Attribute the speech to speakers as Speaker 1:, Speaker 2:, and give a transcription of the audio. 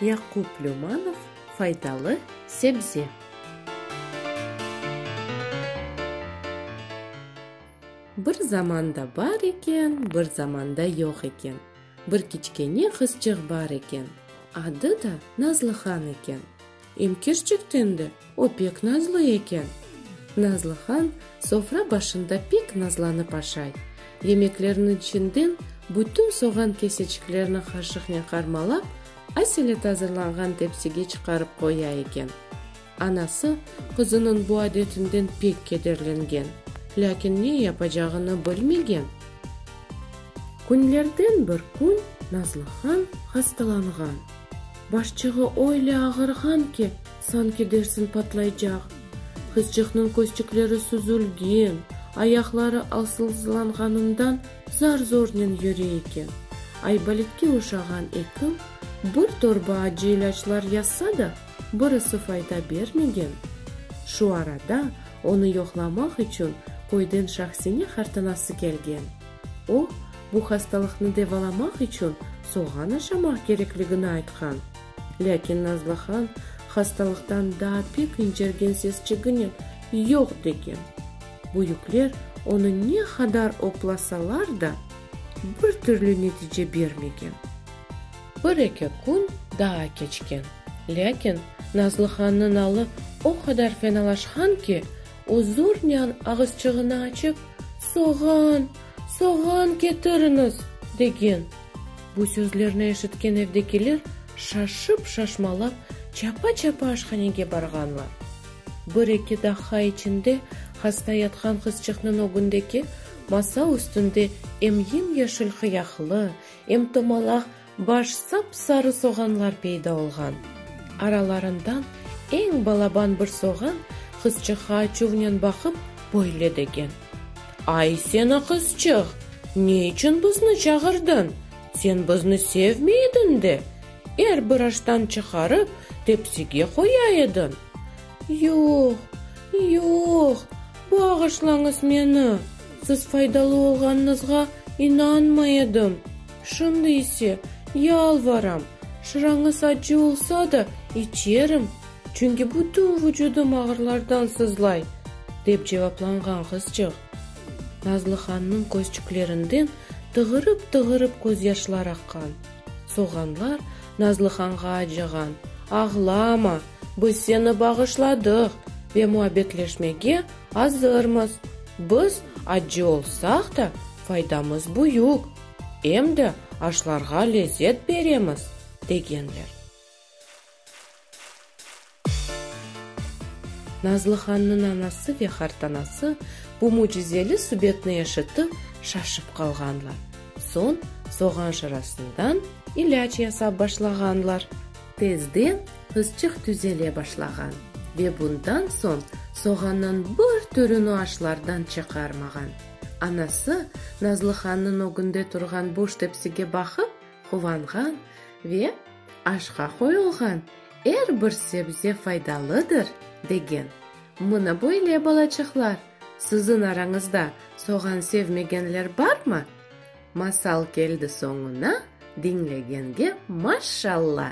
Speaker 1: Yaqup Lümanov faydalı sebze. Bir zamanda bar eken, bir zamanda yoq eken. Bir kiçkene qızçıq bar eken. Adı da Nazlıhan eken. Em kerçekten de, o pek nazlı eken. Nazlı han sofra başında pek nazlanıp aşay, yemeklerniñ içinden bütün soğan keseçiklerini qaşıqnen qarmalap, aselet azırlanğan tepsige çıqarıp qoya eken. Anası qızınıñ bu adetinden pek kederlengen, lâkin ne yapacağını bilmegen. Künlerden bir kün Nazlı han hastalanğan. Başçığı öyle ağırğan ki, sanki dersiñ patlaycaq. Qızcıqnıñ közçükleri süzülgen, ayaqları alsızlanğanından zar-zornen yüre eken. Aybolitke oşağan ekim bir torba acı ilâclar yazsa da, birisi fayda bermegen. Şu arada onı yoqlamaq içün köyden Şahsine qartanası kelgen. O, bu hastalıqnı davalamaq içün soğan aşamaq kerekligini aytqan. Lâkin Nazlıhan hastalıqtan daa pek incergen sesçiginen yoq degen. Büyükler onı ne qadar oplasalar da, bir türlü netice bermegen. Bir-eki kün daa keçken, lâkin Nazlıhanıñ alı o qadar fenalaşqan ki, O zornen ağızçığını açıp, Soğan, soğan ketiriniz! degen. Bu sözlerni eşitken evdekiler şaşıp-şaşmalap çapa-çapa aşhanege barğanlar. Bir-eki daqqa içinde hasta yatqan qızçıqnıñ ögündeki masa üstünde em yem-yeşil qıyaqlı, em tomalaq Baş sap-sarı soğanlar peyda olğan. Aralarından eñ balaban bir soğan qızçıqqa açuvnen baqıp, böyle degen. Ay, sen aqızçıq! Ne içün bizni çağırdın? Sen bizni sevmey ediñ de, er bir aştan çıqarıp, tepsige qoya ediñ. Yoq, yoq, bağışlañız meni, siz faydalı olğanıñızğa inanmay edim. Şimdi ise, yalvaram, şırañız acı olsa da, içerim, çünki bütün vucudım ağırlardan sızlay, dep cevaplanğan qızcıq. Nazlıhannıñ közçüklerinden tığırıp-tığırıp közyaşlar aqqan. Soğanlar Nazlıhanğa acığan, Ağlama, biz seni bağışladıq ve muabbetleşmege azırmız. Biz acı olsaq da, faydamız büyük. em de aşlarğa lezzet beremiz, degenler. Nazlıhannıñ anası ve qartanası bu mücizeli subetni eşitip, şaşıp qalğanlar, soñ soğan şırasından ilâc yasap başlağanlar. Tezden qızçıq tüzele başlağan ve bundan soñ soğannıñ bir türüni aşlardan çıqarmağan. Anası, Nazlıhannıñ ögünde turğan boş tepsige baqıp, quvanğan ve aşqa qoyulğan er bir sebze faydalıdır, degen. Mına böyle, balaçıqlar, siziñ arañızda soğan sevmegenler barmı? Masal keldi soñuna, diñlegenge maşşalla!